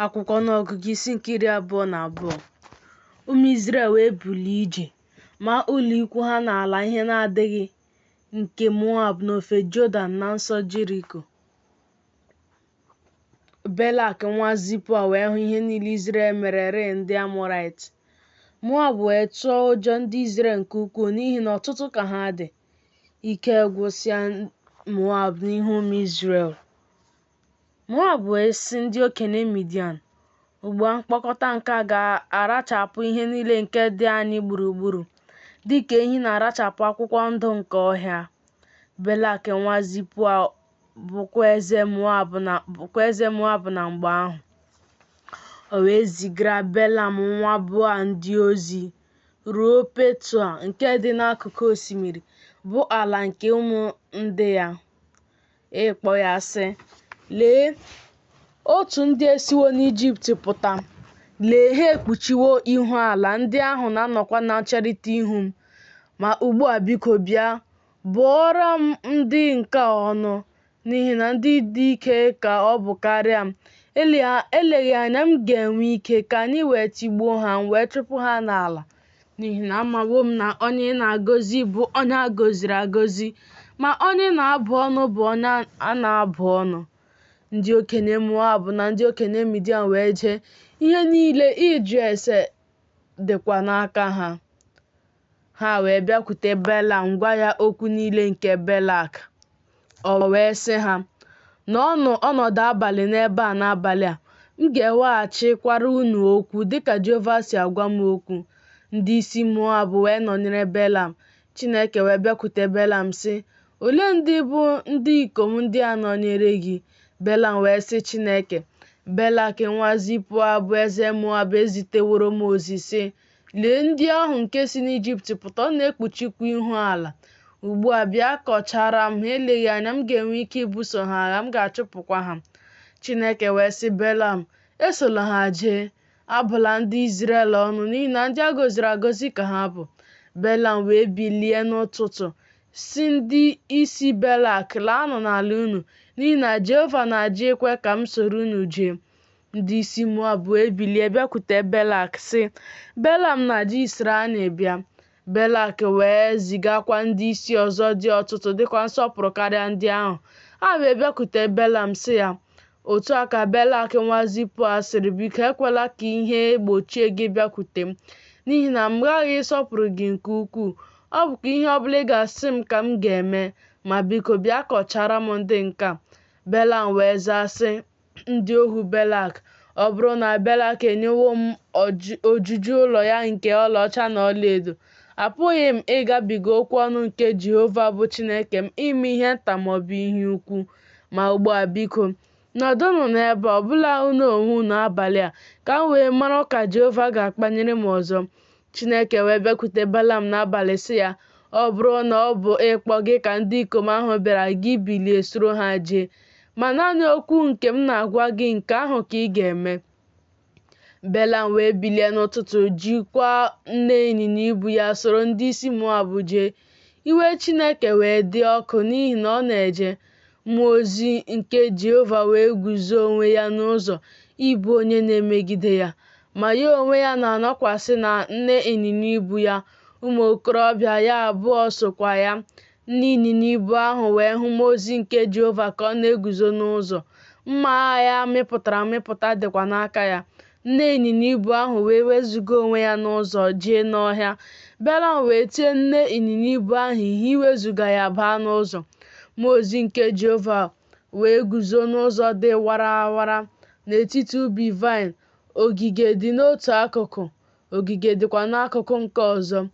akwụkwọ Ọnụọgụgụ isi nke iri abụọ na abụọ ụmụ Izrel wee bulie ije maa ụlọ ikwu ha n'ala ihe na-adịghị nke Moab n'ofe Jọdan na nso Jeriko Belak nwa Zipoa wee hụ ihe niile Izrel merere ndị Amọrait Moab wee tụọ ụjọ ndị Izrel nke ukwuu n'ihi na ọtụtụ ka ha dị ike gwụsịa Moab n'ihu ụmụ Izrel Moab wee sị ndị okenye Midian, Ugbu a mkpọkọta nke a ga-arachapụ ihe niile nke dị anyị gburugburu, dị ka ehi na-arachapụ akwụkwọ ndụ nke ọhịa. Belak nwa Zipoa bụkwa eze Moab na mgbe ahụ. O wee zigara Belam nwa Beoa ndị ozi ruo Petua nke dị n'akụkụ osimiri, bụ ala nke ụmụ ndị ya. ịkpọ ya sị lee otu ndị esiwo n'ijipt pụta lee ha ekpuchiwo ihu ala ndị ahụ na-anọkwa na ncherịta ihu m ma ugbu a biko bịa bụọra m ndị nke a ọnụ n'ihi na ndị dị ike ka ọ bụ karịa m eleghị anya m ga-enwe ike ka anyị wee tigbuo ha m wee chụpụ ha n'ala N'ihi na amawo m na onye ị na-agọzi bụ onye a gọziri agọzi, ma onye ị na-abụ ọnụ bụ onye a na-abụ ọnụ. Ndị okenye Moab na ndị okenye Midian wee jee, ihe niile ịjụ ese dịkwa n'aka ha. Ha wee bịakwute Belam gwa ya okwu niile nke Belak. O wee sị ha, Nọọnụ ọnọdụ abalị n'ebe a n'abalị a, m ga-eweghachikwara unu okwu dịka Jehova si agwa m okwu. Ndị isi Moab wee nọnyere Belam. Chineke wee bịakwute Belam sị, Olee ndị bụ ndị ikom ndị a nọnyere gị? Belam wee sị Chineke, Belak nwa Zipoa bụ eze Moab eziteworo m ozi sị, Lee ndị ahụ nke si n'Ijipt pụta, ọ na-ekpuchikwa ihu ala. Ugbu a bịa kọchara m ha, eleghị anya m ga-enwe ike ibuso ha agha, m ga-achụpụkwa ha. Chineke wee sị Belam, Esola ha jee, abụla ndị Izrel ọnụ, n'ihi na ndị a gọziri agọzi ka ha bụ. Belam wee bilie n'ụtụtụ, sị ndị isi Belak, Laanụ n'ala unu, n'ihi na Jehova na-ajụ ikwe ka m soro unu jee. Ndị isi Moab wee bilie bịakwute Belak sị, Belam na-ajụ isoro anyị bịa. Belak wee zigakwa ndị isi ọzọ dị ọtụtụ dịkwa nsọpụrụ karịa ndị ahụ. Ha wee bịakwute Belam sị ya, Otu a ka Belak nwa Zipoa sịrị, Biko ekwela ka ihe gbochie gị bịakwute m, n'ihi na m ghaghị ịsọpụrụ gị nke ukwuu. Ọ bụkwa ihe ọ bụla ị ga-asị m ka m ga-eme, ma biko bịa kọchara m ndị nke a. Belam wee zaa sị, ndị ohu Belak, ọ bụrụ na Belak enyewo m ojuju ụlọ ya nke ọlaọcha na ọlaedo, apụghị m ịgabiga okwu ọnụ nke Jehova bụ Chineke m ime ihe nta ma ọ bụ ihe ukwu. Ma ugbu a, biko, nọdụnụ n'ebe ọ bụla unu onwe unu abalị a, ka m wee mara ka Jehova ga-akpanyere m ọzọ. Chineke wee bịakwute Belam n'abalị sị ya, Ọ bụrụ na ọ bụ ịkpọ gị ka ndị ikom ahụ bịara gị bilie soro ha jee, ma naanị okwu nke m na-agwa gị nke ahụ ka ị ga-eme. Belam wee bilie n'ụtụtụ jikwa nne ịnyịnya ibu ya soro ndị isi Moab jee. Iwe Chineke wee dị ọkụ n'ihi na ọ na-eje. Mmụọ ozi nke Jehova wee guzo onwe ya n'ụzọ ịbụ onye na-emegide ya, ma ya onwe ya na-anọkwasị na nne ịnyịnya ibu ya, ụmụ okorobịa ya abụọ sokwa ya. Nne ịnyịnya ibu ahụ wee hụ mmụọ ozi nke Jehova ka ọ na-eguzo n'ụzọ, mma agha ya mịpụtara amịpụta dịkwa n'aka ya. Nne ịnyịnya ibu ahụ wee wezuga onwe ya n'ụzọ jee n'ọhịa. Belam wee tie nne ịnyịnya ibu ahụ ihe iwezuga ya baa n'ụzọ. Mmụọ ozi nke Jehova wee guzo n'ụzọ dị warawara n'etiti ubi vaịn, ogige dị n'otu akụkụ, ogige dịkwa n'akụkụ nke ọzọ.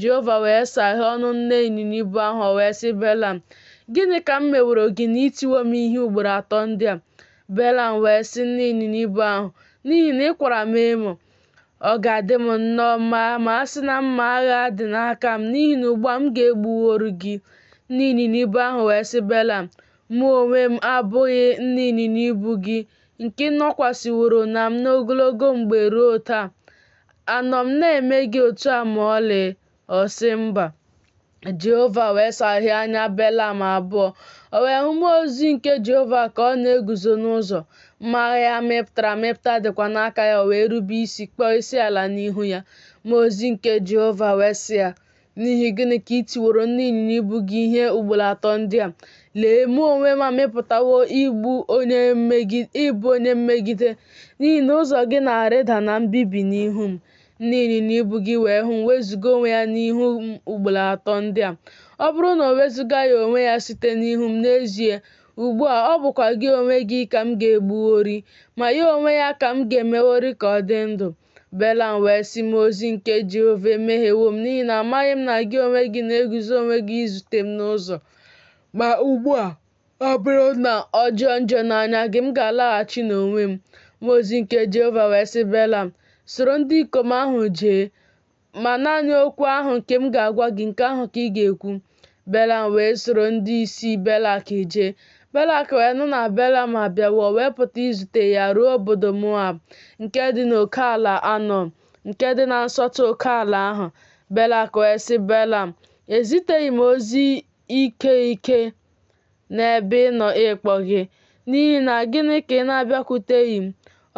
Jehova wee saghee ọnụ nne ịnyịnya ibu ahụ, o wee sị Belam, Gịnị ka m meworo gị na i tiwo m ihe ugboro atọ ndị a? Belam wee sị nne ịnyịnya ibu ahụ, N'ihi na ị kwara m emo. Ọ ga-adị m nnọọ mma ma a sị na mma agha dị n'aka m, n'ihi na ugbu a m ga-egbuworu gị. Nne ịnyịnya ibu ahụ wee sị Belam, Mụ onwe m abụghị nne ịnyịnya ibu gị, nke ị nọkwasịworo na m n'ogologo mgbe ruo taa? Anọ m na-eme gị otu a ma ọlị? Ọ sị, Mba. Jehova wee saghee anya Belam abụọ. O wee hụ mmụọ ozi nke Jehova ka ọ na-eguzo n'ụzọ, mma agha ya mịpụtara amịpụta dịkwa n'aka ya, o wee rube isi kpọọ isi ala n'ihu ya. Mmụọ ozi nke Jehova wee sị ya, N'ihi gịnị ka i tiworo nne ịnyịnya ibu gị ihe ugboro atọ ndị a? Lee, mụ onwe m amịpụtawo ịbụ onye mmegide, n'ihi na ụzọ gị na-arịda na mbibi n'ihu m. Nne ịnyịnya ibu gị wee hụ m wezuga onwe ya n'ihu m ugboro atọ ndị a. Ọ bụrụ na o wezugaghị onwe ya site n'ihu m n'ezie, ugbu a ọ bụkwa gị onwe gị ka m ga-egbuworị, ma ya onwe ya ka m ga-emeworị ka ọ dị ndụ. Belam wee sị mmụọ ozi nke Jehova, emehiewo m, n'ihi na amaghị m na gị onwe gị na-eguzo onwe gị izute m n'ụzọ. Ma ugbu a, ọ bụrụ na ọ jọọ njọ n'anya gị, m ga-alaghachi n'onwe m. Mmụọ ozi nke Jehova wee sị Belam, Soro ndị ikom ahụ jee. Ma naanị okwu ahụ nke m ga-agwa gị, nke ahụ ka ị ga-ekwu. Belam wee soro ndị isi Belak jee. Belak wee nụ na Belam abịawo wee pụta izute ya ruo obodo Moab nke dị n'okeala Anọn, nke dị na nsọtụ okeala ahụ. Belak wee sị Belam, Eziteghị m ozi ike ike n'ebe ị nọ ịkpọ gị, n'ihi na gịnị ka ị na-abịakwuteghị m?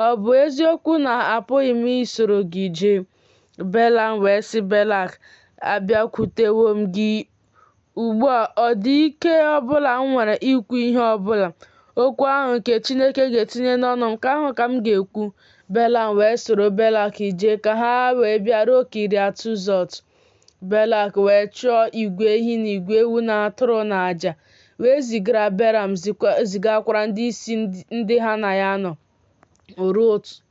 Ọ bụ eziokwu na apụghị m isoro gị jee? Belam wee sị Belak, Abịakwutewo m gị ugbu a, ọ dị ike ọ bụla m nwere ikwu ihe ọ bụla. Okwu ahụ nke Chineke ga-etinye n'ọnụ m, nke ahụ ka m ga-ekwu. Belam wee soro Belak jee ka ha wee bịaruo Kiriat Huzot. Belak wee chụọ igwe ehi na igwe ewu na atụrụ na aja, wee zigara Belam zigakwara ndị isi ndị ha na ya nọ.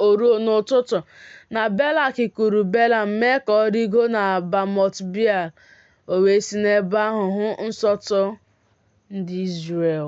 O ruo n'ụtụtụ na Belak kuru Belam mee ka ọ rigo na Bamot Beal, o wee si n'ebe ahụ hụ nsọtụ ndị Izrel.